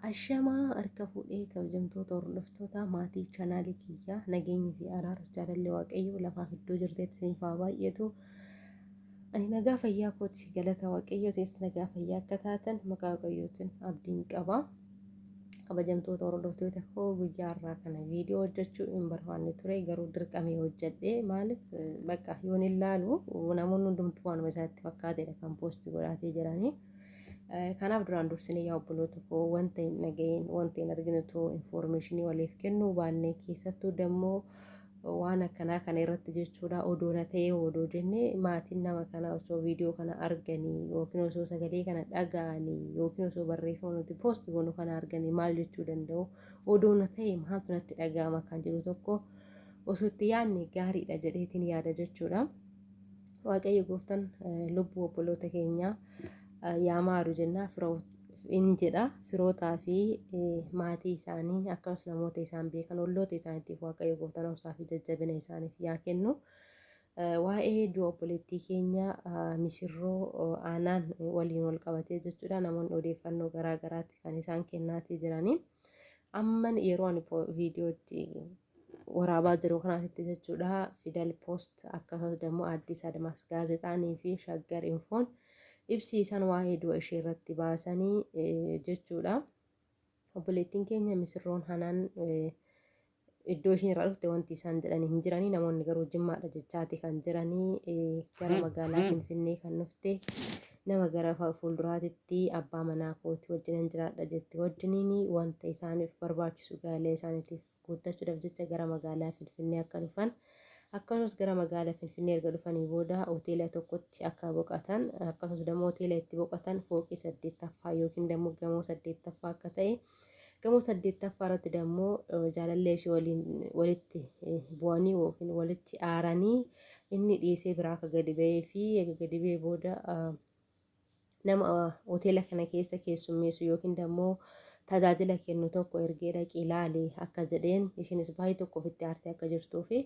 Ashamaa harka fuudhee kabajamtoota hordoftoota maatii chaanaalii kiyyaa nageenyi fi araara jaalalli waaqayyoo lafaaf iddoo jirteetti isiniif haa baay'atu. Ani nagaa fayyaa kooti galata waaqayyoo isinis nagaa fayyaa akka taatan maqaa waaqayyootiin abdiin qaba. kabajamtoota hordoftoota koo guyyaa irraa kana viidiyoo hojjechuu hin barbaanne ture garuu dirqamee hojjedhe maaliif bakka yoon ilaalu namoonni hundumtuu waanuma isaatti fakkaatedha kan poosti godhaatee jiranii. Kanaaf duraan dursinee yaa obboloota koo wanta hin dhaga'in wanta hin argine too infoormeeshinii waliif kennuu baannee keessattuu dammoo waan akkanaa kana irratti jechuudha odoo na ta'ee odoo jenne maatiin nama kana osoo viidiyoo kana arganii yookiin osoo sagalee kana dhaga'anii yookiin osoo barreeffama nuti poosti goonu kana arganii maal jechuu danda'u odoo na ta'e maaltu natti dhaga'ama kan jedhu tokko osoo itti yaadne gaariidha jedheetiin yaada jechuudha. Waaqayyo gooftan lubbuu obboloota keenyaa yaa maaru jennaa firoota. in jedha firootaa fi maatii isaanii akkasumas namoota isaan beekan olloota isaaniitiif waaqayyo gooftaan obsaa fi jajjabina isaaniif yaa kennu. Waa'ee du'a obboleettii keenya misirroo aanaan waliin wal qabatee jechuudha namoonni odeeffannoo garaa garaatti kan isaan kennaatii jiranii. Amman yeroo ani viidiyootti waraabaa jiru kanaasitti jechuudha fidal poost akkasumas immoo addis admaas gaazexaanii fi shaggar infoon ibsiisan waa'ee du'a ishee irratti baasanii jechuudha obboleettiin keenya misirroon hanaan iddoo ishiin irraa dhufte wanti isaan jedhanii hin jiranii namoonni garuu jimmaadha jechaati kan jiranii gara magaalaa finfinnee kan dhufte nama gara fuulduraatitti abbaa manaa kooti wajjinan jiraadha jette wajjiniin wanta isaaniif barbaachisu gaalee isaaniitiif guuttachuudhaaf jecha gara magaalaa Finfinnee akka dhufan akkasumas gara magaalaa Finfinnee erga dhufanii booda hoteela tokkotti akka boqatan akkasumas dammoo hoteela itti boqatan fooqii saddeettaffaa yookiin dammoo gamoo saddeettaffaa akka ta'e gamoo saddeettaffaa irratti dammoo jaalallee ishee waliin walitti bu'anii yookiin walitti aaranii inni dhiisee biraa akka gadi ba'ee fi eega gadi ba'ee booda nama hoteela kana keessa keessummeessu yookiin dammoo tajaajila kennu tokko ergee dhaqii ilaali akka jedheen ishiinis baay'ee tokko ofitti aartee akka jirtuu fi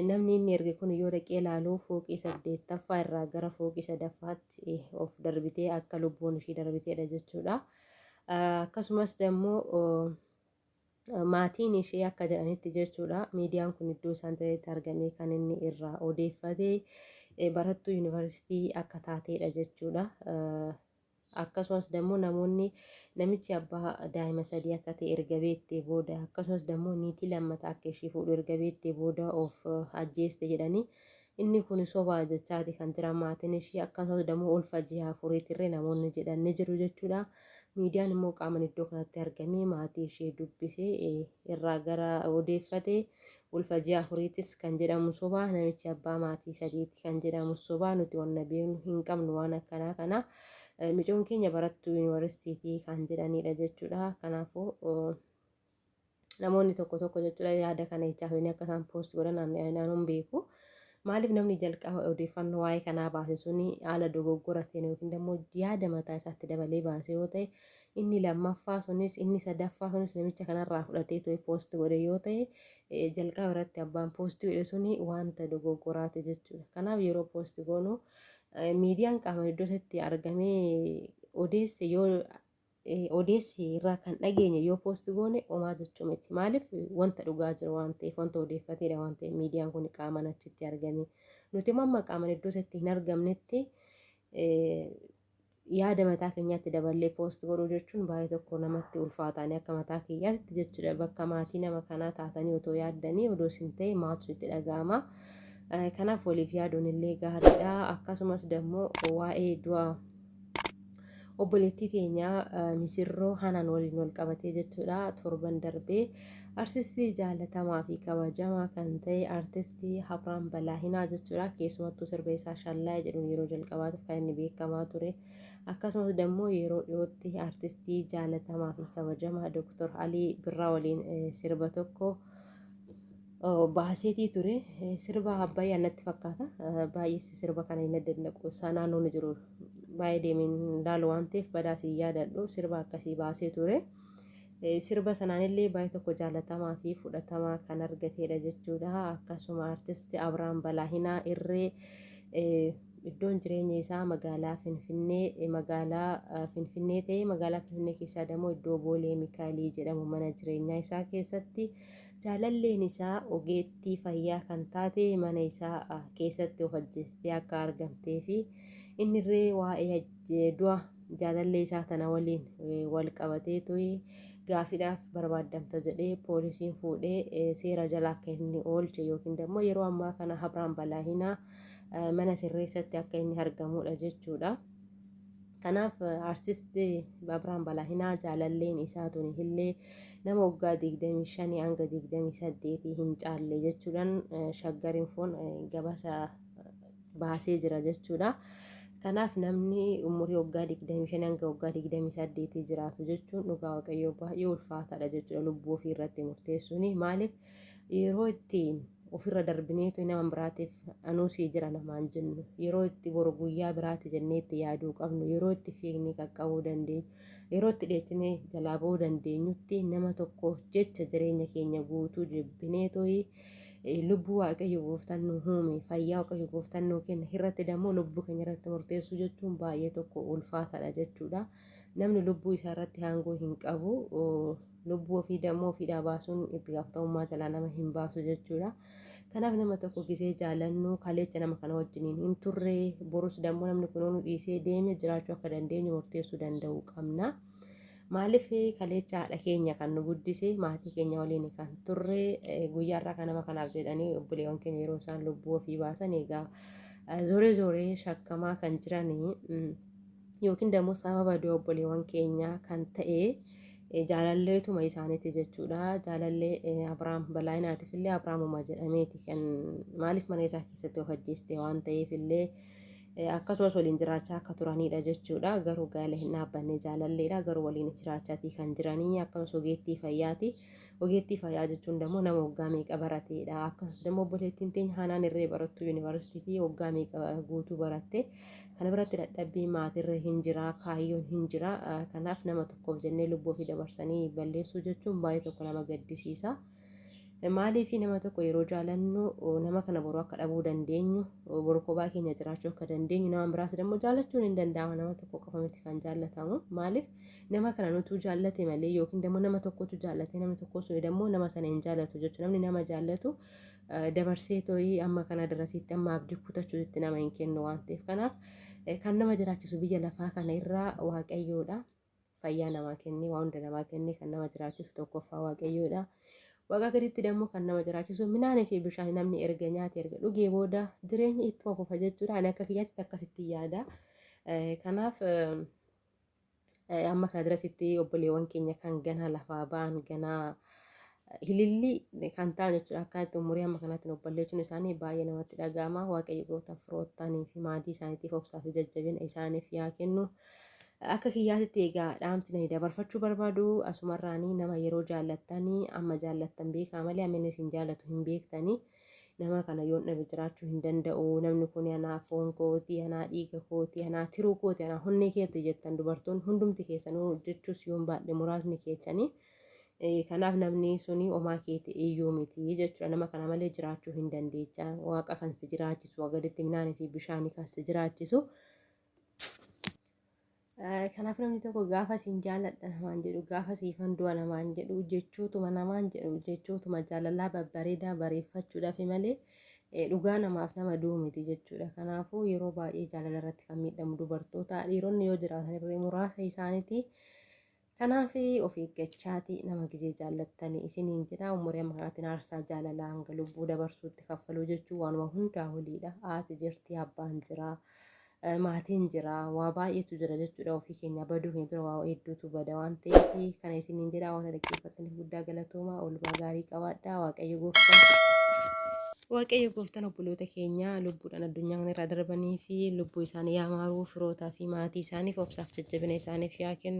namni inni erge kun yoo dhaqee ilaalu fooqii saddeettaffaa irraa gara fooqii sadaffaatti of darbitee akka lubbuun ishii darbiteedha jechuudha. Akkasumas dammoo Maatiin ishee akka jedhanitti jechuudha miidiyaan kun iddoo isaan jiranitti argamee kan inni irraa odeeffate barattuu yuunivarsiitii akka taateedha jechuudha. akkasumas dammoo namoonni namichi abbaa daa'ima sadii akka ta'e erga beektee booda akkasumas dammoo niitii lammata akka ishee fuudhu erga beektee booda of ajjeeste jedhanii Inni kuni soba jechaati kan jiran maatiin ishii akkasumas dammoo ulfa ji'a afuriitirree namoonni jedhan ni jiru jechuudha. Miidiyaan immoo qaaman iddoo kanatti argamee maatii ishee dubbisee irraa gara odeeffate ulfa ji'a afuriitis kan jedhamu soba namichi abbaa maatii sadiiti kan jedhamu soba nuti wanna beeknu hin qabnu waan akkanaa kana micoon keenya barattuu yuunivarsiitiitii kan jedhanidha jechuudha. Kanaafuu namoonni tokko tokko jechuudha yaada kana jechaa hojii akka isaan poost godhan naannoon beeku. Maaliif namni jalqaba odeeffannoo waa'ee kanaa baase suni haala dogoggora ta'een yookiin immoo yaada mataa isaatti dabalee baase yoo ta'e inni lammaffaa sunis inni sadaffaa sunis namicha kanarraa fudhatee ta'e poost godhe yoo ta'e eh, jalqaba irratti abbaan poost godhe suni wanta dogoggoraati jechuudha. Kanaaf yeroo poost goonu eh, miidiyaan qaama iddoo isatti argamee odeesse yoo odeessi irraa kan dhageenye yoo poosti goone omaa jechuu miti maaliif wanta dhugaa jiru waan ta'eef wanta odeeffateedha waan ta'eef miidiyaan kun qaaman achitti argame nuti immoo amma qaaman iddoo isatti hin argamnetti yaada mataa keenyaatti daballee poosti godhuu jechuun baay'ee tokko namatti ulfaataanii akka mataa kiyyaatti jechuudha bakka maatii nama kanaa taatanii otoo yaaddanii odoo isin ta'e maatu itti dhaga'ama. Kanaaf waliif yaaduun illee gaariidha akkasumas dammoo waa'ee du'a obboleettii teenyaa misirroo hanaan waliin wal qabatee jechuudha torban darbee artistii jaalatamaa fi kabajamaa kan ta'e artistii Habraan Balaahinaa jechuudha keessumattuu sirba isaa shallaaya jedhuun yeroo jalqabaatiif kan inni beekamaa ture akkasumas immoo yeroo dhiyootti artistii jaalatamaa fi kabajamaa Dr. Alii Birraa waliin sirba tokko baaseetii ture sirba abbayyaa natti fakkaata baay'eessi sirba kana hin daddaqu isaa naannoon jiru baay'ee deemeen laalu waan ta'eef badaas hin yaadadhu sirba akkasii baasee ture sirba sanaanillee baay'ee tokko jaalatamaa fi fudhatamaa kan argateedha jechuudha akkasuma artisti Abrahaam Balaahinaa irree iddoon jireenya isaa magaalaa Finfinnee magaalaa Finfinnee ta'ee magaalaa Finfinnee keessaa immoo iddoo Boolee Mikaayilii jedhamu mana jireenyaa isaa keessatti Jaalalleen isaa ogeettii fayyaa kan taate mana isaa keessatti of ajjeestee akka argamtee fi innirree waa'ee du'a jaalallee isaa tana waliin wal qabatee tuyi gaafidhaaf barbaaddamta jedhee poolisiin fuudhee seera jala akka inni oolche yookiin immoo yeroo ammaa kana Abrahaam Balaahinaa mana sirreessatti akka inni argamudha jechuudha. Kanaaf artisti Abrahaam Balaahinaa jaalalleen isaa tuni illee nama waggaa 25 hanga 28 hin caalle jechuudhaan shaggar infoon gabaasa baasee jira jechuudha. Kanaaf namni umurii waggaa 25 hanga waggaa 28 jiraatu jechuun dhugaa waaqayyoo baay'ee ulfaataadha jechuudha lubbuu ofii irratti murteessuun maaliif yeroo ittiin ofirra darbineetu nama biraatiif anuu sii jira namaan jennu yeroo itti boru guyyaa biraati jennee itti yaaduu qabnu yeroo itti fiignee qaqqabuu dandeenyu yeroo itti dheechinee jalaa ba'uu dandeenyutti nama tokkoof jecha jireenya keenya guutuu jibbineetooyi lubbuu waaqayyo gooftaan nu uume fayyaa waaqayyo gooftaan nu kenna irratti dammoo lubbuu keenya irratti murteessuu jechuun baay'ee tokko ulfaataadha jechuudha namni lubbuu isaa irratti aangoo hin qabu lubbuu ofii dammoo ofiidhaa baasuun itti gaafatamummaa jalaa nama hin baasu jechuudha. Kanaaf nama tokko gisee jaalannu kaleecha nama kana wajjiniin hin turre borus dammoo namni kun nu dhiisee deeme jiraachuu akka dandeenyu murteessuu danda'uu qabna. Maaliif kaleecha haadha keenya kan nu guddise maatii keenya waliin kan turre guyyaa irraa kan nama kanaaf jedhanii obboleewwan keenya yeroo isaan lubbuu ofii baasan egaa zooree zooree shakkamaa kan jiranii yookiin dammoo sababa du'a obboleewwan keenyaa kan ta'e. jaalalleetuma isaaniiti jechuudha. Jaalallee Abiraam Balaayinaatiif illee Abiraamuma jedhameeti kan maaliif mana isaa keessatti of ajjeeste waan ta'eef illee akkasumas waliin jiraachaa akka turanidha jechuudha. Garuu gaa'ela hin dhaabbanne jaalalleedha. Garuu waliin jiraachaatii kan jiranii akkasumas ogeettii fayyaati. Ogeettii fayyaa jechuun dammoo nama waggaa meeqa barateedha. Akkasumas dammoo obboleettiin teenya haanaan irree barattuu yuunivarsiitiitii waggaa meeqa guutuu baratte. Kana biratti dadhabbii maatirra hin jira, kaayyoon hin jira. Kanaaf nama tokkoof jennee lubbuu ofii dabarsanii balleessuu jechuun baay'ee tokko nama gaddisiisa. Maaliif nama tokko yeroo jaalannu nama kana boruu akka dhabuu dandeenyu, boruu kophaa keenya jiraachuu akka dandeenyu, nama biraas dammoo jaallachuun hin danda'ama nama tokko qofa miti kan jaallatamu. Maaliif nama kana nutuu jaallate malee yookiin dammoo nama tokkotu jaallate namni tokko sun dammoo nama sana hin jaallatu jechuudha namni nama jaallatu dabarsee too'ii amma kana darasiitti amma abdii kutachuutti nama hin kennu waan ta'eef kanaaf kan nama jiraachisu biyya lafaa kana irraa waaqayyoodha fayyaa namaa kennee waa hunda namaa kennee kan nama jiraachisu tokkoffaa waaqayyoodha. Waaqa gaditti dammoo kan nama jiraachisu midhaanii fi bishaan namni erga nyaate erga dhugee booda jireenya ittuma fufa jechuudha. Ani akka kiyyaatti akkasitti yaada. Kanaaf Amma kana dirasitti obboleewwan keenya kan ganaa lafaa ba'an ganaa hilillii kan ta'an jechuudha. Akkanatti umurii amma kanatti obballeechuun isaanii baay'ee namatti dhaga'ama. Waaqayyo gooftaan firoottaanii fi maatii isaaniitiif obsaa fi jajjabina isaaniif yaa kennu. Akka kiyyaatitti egaa dhaamsina dabarfachuu barbaadu asumarraanii nama yeroo jaallattanii amma jaallattan beekaa malee amma inni isin jaallatu hin beektanii. Nama kana yoon dhabe jiraachuu hin danda'u. Namni kun anaa foon kooti, anaa dhiiga kooti, anaa tiruu kooti, anaa honnee keeti jettan dubartoonni hundumti keessanuu jechuus yoon baadhe muraasni keessanii. Kanaaf namni suni omaa keeti iyyuu miti jechuudha. Nama kana malee jiraachuu hin dandeecha. Waaqa kan si jiraachisu, wagaditti minaanii fi bishaanii kan si jiraachisu. Kanaaf namni tokko gaafa siin jaaladha namaan jedhu gaafa siifan du'a namaan jedhu jechootuma namaan jedhu jechootuma jaalalaa babbareedaa bareeffachuudhaaf malee dhugaa namaaf nama du'u miti jechuudha. Kanaafuu yeroo baay'ee jaalala irratti kan miidhamu dubartoota dhiironni yoo jiraatan illee muraasa isaaniiti. Kanaaf of eeggachaati nama gizee jaallattani isiniin jedha umurii amma kanaatiin aarsaa jaalalaa hanga lubbuu dabarsuutti kaffaluu jechuun waanuma hundaa oliidha haati jirti abbaan jira eh, maatiin jira waa baay'eetu jira jechuudha ofii keenya baduu keenya dura waa hedduutu bada waan ta'eef kana isiniin jedha waan dhaggeeffattaniif guddaa galatoomaa oolmaa gaarii qabaadhaa waaqayyo gooftaan Waaqayyo gooftaan obboloota keenya lubbuudhaan addunyaa kana irraa darbanii fi lubbuu isaanii yaa maaruu firootaa fi maatii isaaniif obsaaf jajjabina isaaniif yaa kennu.